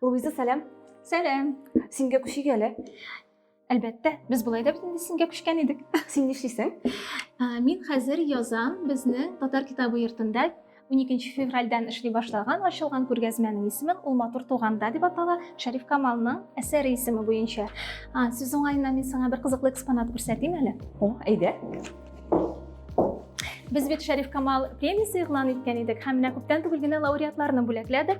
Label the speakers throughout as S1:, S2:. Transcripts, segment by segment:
S1: Луиза, сәлам. Сәлам.
S2: Сингә күчик
S1: әле. Әлбәттә,
S2: без болай да бөтен сингә күчкән идек. Син нишлисең?
S1: Мин
S2: хәзер язам безнең татар китабы йортында 12 февральдән эшли башлаган ачылган күргәзмәнең исемен ул матур туганда дип атала шәриф камалның әсәре исеме буенча сүз уңаеннан мин сиңа бер кызыклы экспонат күрсәтим әле о әйдә Без бит Шәриф Камал премиясе игълан иткән идек һәм менә күптән түгел генә лауреатларны бүләкләдек.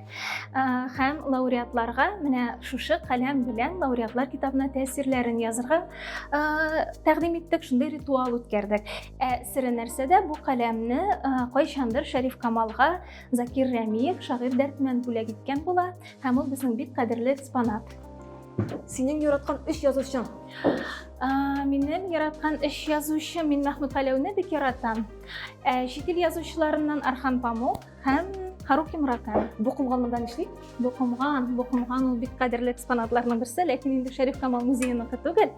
S2: Һәм лауреатларга менә шушы каләм белән лауреатлар китабына тәэсирләрен язырга тәкъдим иттек, шундый ритуал үткәрдек. Ә сире нәрсәдә бу каләмне кайчандыр Шәриф Камалга Закир Рәмиев шагыйрь дәртмән бүләк иткән була һәм ул безнең бик кадерле экспонат. Синең
S1: яраткан өч язучың?
S2: Минем яраткан өч язучы мин Мәхмүт Галәүне бик яратам. Ә чит ил язучыларыннан Архан Памук һәм Харуки Мураками. Бу комган монда нишли?
S1: Бу комган,
S2: бу комган ул бик кадерле экспонатларның берсе, ләкин инде Шәриф Камал музееныкы түгел.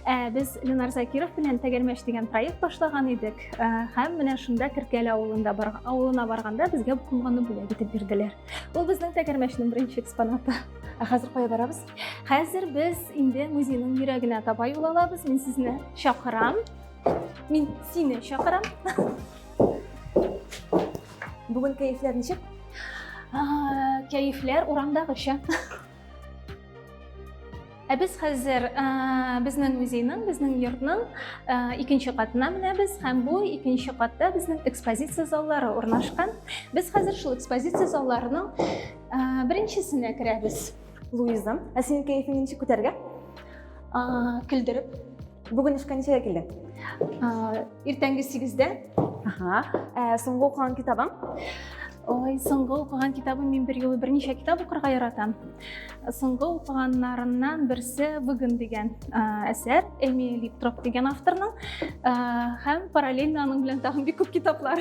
S2: Ә без Ленар Закиров белән Тәгәрмәч дигән проект башлаган идек. Һәм менә шунда Киркәле авылында бар, авылына барганда безгә бу комганны бүләк итеп бирделәр. Ул безнең Тәгәрмәчнең беренче экспонаты. Ә хәзер кая барабыз?
S1: Хәзер без
S2: инде музейның йөрәгенә таба юл алабыз. Мин сезне чакырам. Мин сине чакырам.
S1: Бүген кәефләр ничек? Кәефләр
S2: урамдагыча. Ә без хәзер безнең музейның, безнең йортның икенче катына менәбез һәм бу икенче катта безнең экспозиция заллары урнашкан. Без хәзер шул экспозиция залларының Ә, беренчесенә керәбез. Луиза, ә
S1: синең кәефең ничек күтәргә? Ә,
S2: көлдереп. Бүген
S1: эшкә ничәгә килдең? Ә, иртәнге 8-дә.
S2: Ага. Ә,
S1: соңгы укыган китабың? Ой,
S2: соңгы укыган китабым мин бер юлы берничә китап укырга яратам. Соңгы укыганнарымнан берсе бүген дигән әсәр Эмили Троп дигән авторның һәм параллельно аның белән тагын бик күп китаплар.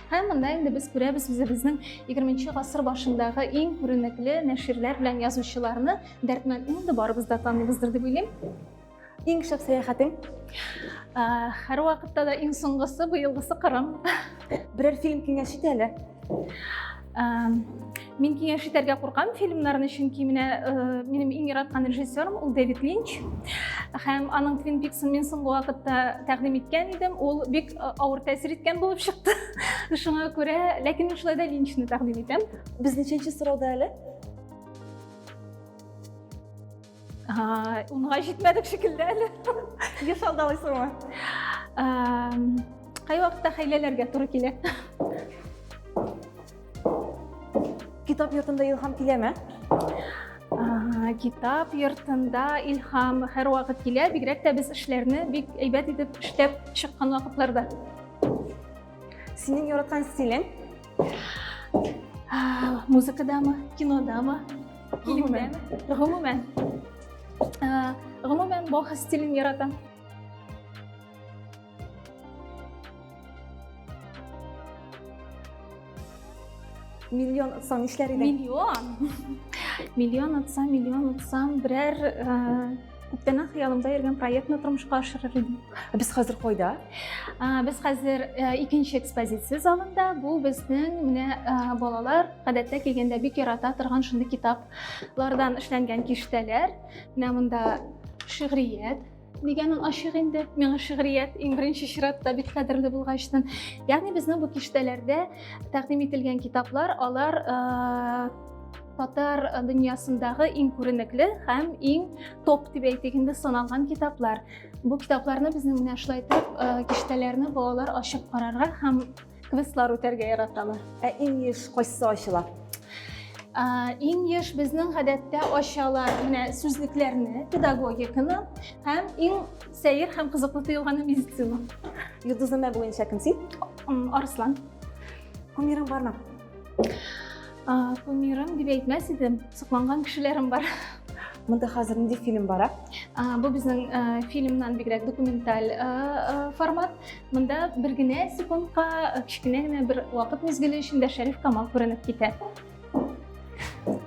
S2: Һәм монда инде без күрәбез үзебезнең 20 гасыр башындагы иң күренекле нәширләр белән язучыларны. Дәртмән инде барыбыз да таныйбыздыр дип уйлыйм. Иң шәп
S1: сәяхәтең?
S2: Һәр вакытта да иң соңгысы, быелгысы Кырым. Берәр фильм
S1: киңәш ит әле.
S2: Мин киңәш итәргә куркам фильмнарны, чөнки менә э, минем иң яраткан режиссерым ул Дэвид Линч. Һәм аның Twin Peaks-ын мин соңгы вакытта тәкъдим иткән идем. Ул бик э, авыр тәэсир иткән булып чыкты. Шуңа күрә, ләкин мин шулай да Линчны тәкъдим итәм. Без ничәнче сорауда
S1: әле?
S2: Унга җитмәдек шикелле әле. Еш
S1: алдалыйсыңмы?
S2: Кай вакытта хәйләләргә туры килә?
S1: Китап йортында илһам киләме?
S2: Китап йортында илһам һәр вакыт килә, бигрәк тә без эшләрне бик әйбәт итеп эшләп чыккан вакытларда.
S1: Синең яраткан стилең?
S2: музыкадамы кинодамы гомумән гомумән гомумән баха стилен яратам
S1: миллион отсам нишләр идең миллион
S2: миллион отсам миллион отсам берәр Күптәннән хыялымда йөргән проектны тормышка ашырыр идем. Без хәзер кайда?
S1: Без
S2: хәзер э, икенче экспозиция залында. Бу безнең менә э, балалар гадәттә килгәндә бик ярата торган шундый китаплардан эшләнгән киштәләр. Менә монда шигърият, дигәнең ачык инде миңа шигърият иң беренче чиратта бик кадерле булгачтан ягъни безнең бу киштәләрдә тәкъдим ителгән китаплар алар э, татар э, дөньясындагы иң күренекле һәм иң топ дип әйтик инде саналган китаплар бу китапларны безнең менә шулай итеп э, киштәләрне балалар ачып карарга һәм квестлар үтәргә яраталар ә иң еш
S1: кайсы ачыла э,
S2: иң еш безнең гадәттә ачалар менә сүзлекләрне педагогиканы һәм иң сәер һәм кызыклы тоелганы медицина йолдызыма
S1: буенча кем син арыслан кумирың бармы
S2: кумирым дип әйтмәс идем сокланган кешеләрем бар мында хәзер
S1: нинди фильм бара бу безнең
S2: фильмнан бигрәк документаль формат мында бер генә секундка кечкенә генә бер вакыт мизгеле эчендә шәриф камал күренеп китә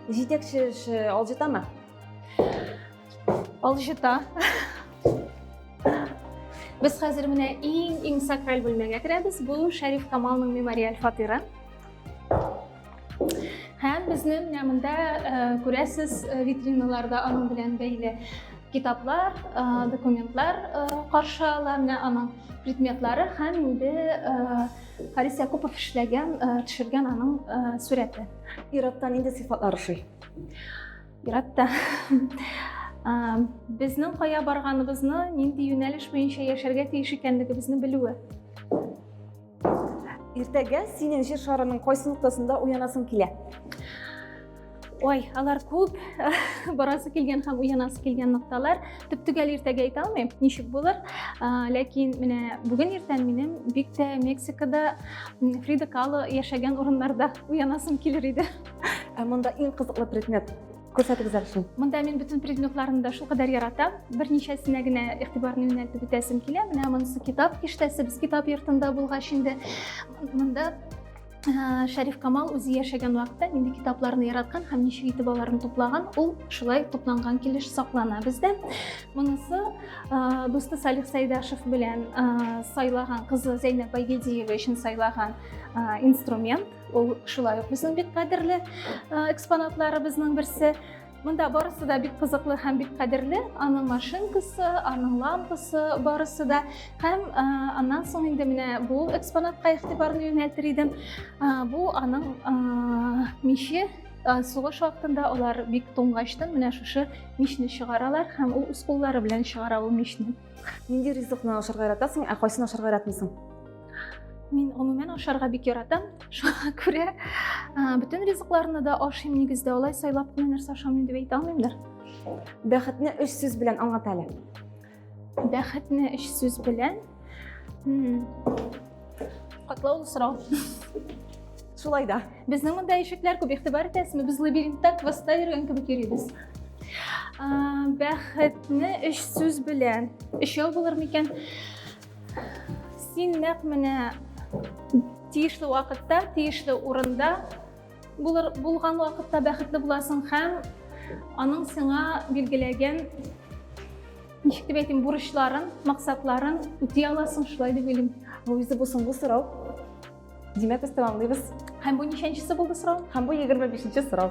S1: җитәкче эше алҗытамы
S2: Алҗыта. Без хәзер менә иң-иң сакраль бүлмәгә керәбез. Бу Шәриф Камалның мемориаль фатиры. Һәм безне менә монда э, күрәсез э, витриналарда аның белән бәйле китаплар, э, документлар каршы ала, менә аның предметлары һәм инде Харис Якупов эшләгән, төшергән аның сурәте. Ираттан инде
S1: сыйфатлар ошый. Ерак
S2: та. Безнең кая барганыбызны, нинди юнәлеш буенча яшәргә тиеш икәнлегебезне белүе.
S1: Иртәгә синең җир шарының кайсы ноктасында уянасың килә?
S2: Ой, алар күп, барасы килгән һәм уянасы килгән нокталар. Төп-төгәл иртәгә әйтә алмыйм, ничек булыр. Ләкин менә бүген иртән минем бик тә Мексикада Фрида Кало яшәгән урыннарда уянасым килер иде. Ә монда иң
S1: кызыклы предмет күрсәтегез әле шуны монда мин бөтен предметларны
S2: да шулкадәр яратам берничәсенә генә игътибарны юнәлтеп үтәсем килә менә монысы китап киштәсе без китап йортында булгач инде монда ә, шәриф камал үзе яшәгән вакытта нинди китапларны яраткан һәм ничек итеп аларны туплаган ул шулай тупланган килеш саклана бездә монысы ә, дусты салих сәйдашев белән ә, сайлаган кызы зәйнәп байгедиева өчен сайлаган ә, инструмент Ул шулай ук безнең бик кадерле экспонатларыбызның берсе. Монда барысы да бик кызыклы һәм бик кадерле. Аның машинкасы, аның лампасы барысы да. Һәм аннан соң инде менә бу экспонатка игътибарны юнәлтер идем. Бу аның миче сугыш вакытында алар бик туңгачтан менә шушы мичне чыгаралар һәм ул үз куллары белән чыгара ул мичне. Нинди ризыкны
S1: ашарга яратасың, ә кайсын ашарга яратмыйсың? Мин
S2: гомумән ашарга бик яратам. Шуңа күрә бөтен ризыкларны да ашыйм нигездә. Алай сайлап кына нәрсә ашамыйм дип әйтә алмыймдыр. Бәхетне
S1: өч сүз белән аңлат әле.
S2: Бәхетне өч сүз белән. Катлаулы сорау.
S1: Шулай да. Безнең монда ишекләр
S2: күп игътибар итәсезме? Без лабиринтта квестта йөргән кебек йөрибез. Бәхетне өч сүз белән. Өчәү булыр микән? Син нәкъ менә тиешле вакытта, тиешле урында булыр, булган вакытта бәхетле буласың һәм аның сиңа билгеләгән ничек дип әйтим, бурычларын, максатларын үти аласың, шулай дип уйлыйм. Бу үзе бу соңгы
S1: сорау.
S2: Димәк, без
S1: тәмамлыйбыз. Һәм бу ничәнчесе
S2: булды
S1: сорау?
S2: Һәм бу 25
S1: нче
S2: сорау.